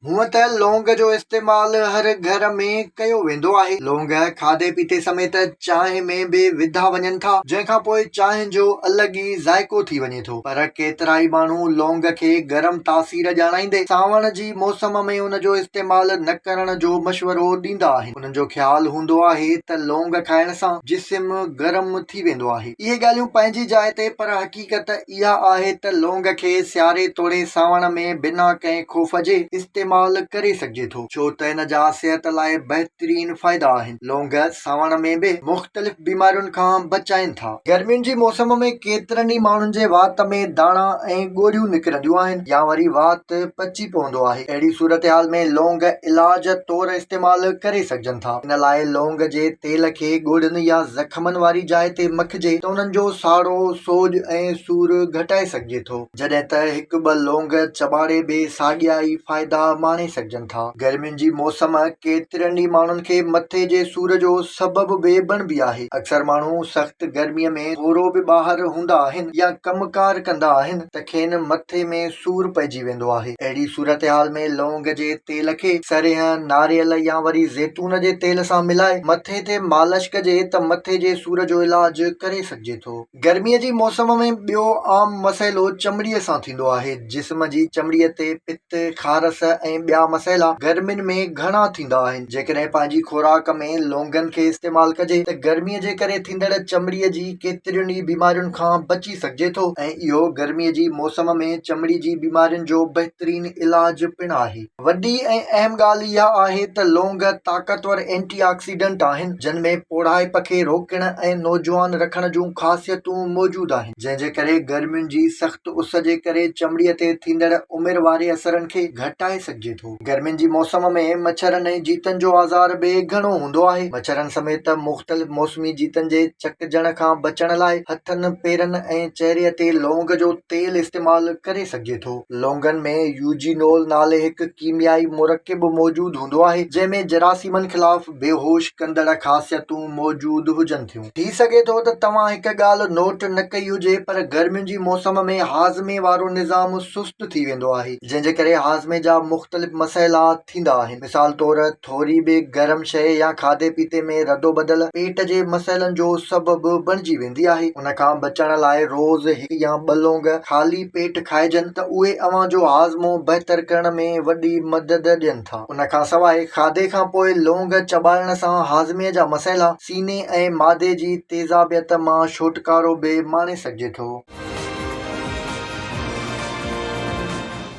هونئن ته لونگ جو استعمال هر گهر ۾ ڪيو ويندو آهي. لونگ کاڌي پيتي سميت چانهه ۾ به وڌا وڃن ٿا، جنهن کان پوء چانهه جو الڳ ئي ذائقو ٿي وڃي ٿو. پر ڪيترائي ماڻهو لونگ کي گرم تاثير ڄاڻائيندي سانوڻ جي موسم ۾ ان جو استعمال نه ڪرڻ جو مشورو ڏيندا آهن. انهن جو خيال هوندو آهي ته لونگ کائڻ سان جسم گرم ٿي ويندو آهي. اهي ڳالهيون پنهنجي جاء تي پر حقيقت اها آهي ته لونگ کي سياري توڙي سانوڻ ۾ بنا ڪنهن خوف جي استعمال ڪري سگهجي ٿو ڇو ته ان جا صحت لاء بهترين فائدا آهن. لونگ سانوڻ ۾ به مختلف بيمارين کان بچائين ٿا. گرمين جي موسم ۾ ڪيترن ئي ماڻهن جي وات ۾ داڻا ۽ ڳوڙهيون نڪرنديون آهن يا وري وات پچي پوندو آهي اهڙي صورتحال ۾ لونگ علاج طور استعمال ڪري سگهجن ٿا ان لاء لونگ جي تيل کي ڳوڙهن يا زخمن واري جاء تي مکي ڪجي ته انهن جو ساڙو، سوڄ ۽ سور گهٽائي سگهجي ٿو، جڏهن ته هڪ ٻه لونگ چٻاڙي به ساڳيا ئي فائدا ماڻي سگهجن ٿا. گرمين جي موسم ڪيترن ئي ماڻهن کي مٿي جي سور جو سبب به بڻبي آهي. اڪثر ماڻهو سخت گرمي ۾ ٿورو به ٻاهر هوندا آهن يا ڪم ڪار ڪندا آهن ته کين مٿي ۾ سور پئجي ويندو آهي. اهڙي صورتحال ۾ لونگ جي تيل کي سرينهن، ناريل يا وري زيتون جي تيل سان ملائي مٿي تي مالش ڪجي ته مٿي جي سور جو علاج ڪري سگهجي ٿو. گرمي جي موسم ۾ ٻيو عام مسئلو چمڙي سان ٿيندو آهي. جسم جي چمڙي تي پت، خارس ۽ ٻيا مسئلا گرمين ۾ گهڻا ٿيندا آهن. جيڪڏهن پنهنجي خوراڪ ۾ لونگن کي استعمال ڪجي ته گرمي جي ڪري ٿيندڙ چمڙي جي ڪيترين ئي بيمارين کان بچي سگهجي ٿو ۽ اهو گرمي جي موسم ۾ چمڙي جي بيمارين جو بهترين علاج پڻ آهي. وڏي ۽ اهم ڳالهه اها آهي ته لونگ طاقتور اينٽي آڪسيڊنٽ آهن، جن ۾ پوڙهائپ کي روڪڻ ۽ نوجوان رکڻ جون خاصيتون موجود آهن، جنهن جي ڪري گرمين جي سخت اس جي ڪري چمڙي تي ٿيندڙ عمر واري اثرن کي گهٽائي سگهجي ٿو. گرمين جي موسم ۾ مڇرن ۽ جيتن جو آزار به گهڻو هوندو آهي. مڇرن سميت مختلف موسمي جيتن جي چڪجڻ کان بچڻ لاء هٿن، پيرن ۽ چهري تي لونگ جو تيل استعمال ڪري سگهجي ٿو. لونگن ۾ يوجينول نالي هڪ ڪيميائي مرڪب موجود هوندو آهي، جنهن ۾ جراثيمن خلاف بيهوش ڪندڙ خاصيتون موجود هجن ٿيون. ٿي سگهي ٿو ته توهان هڪ ڳالهه نوٽ نه ڪئي هجي پر گرمين جي موسم ۾ هاضمي وارو نظام سست سست ٿي ويندو آهي، جنهن جي ڪري هاضمي جا مختلف مسئلا ٿيندا آهن. مثال طور ٿوري به گرم شيء يا کاڌي پيتي ۾ ردوبدل پيٽ جي مسئلن جو سبب بڻجي ويندي آهي. ان کان بچڻ لاء روز هڪ يا ٻه لونگ خالي پيٽ کائجن ته اهي اوهان جو هاضمو بهتر ڪرڻ ۾ وڏي مدد ڏين. ٿا. ان کان سواء کاڌي کان پوء لونگ چٻاڙڻ سان هاضمي جا مسئلا، سيني ۽ معدي جي تيزابيت مان ڇوٽڪارو به ماڻي سگهجي ٿو.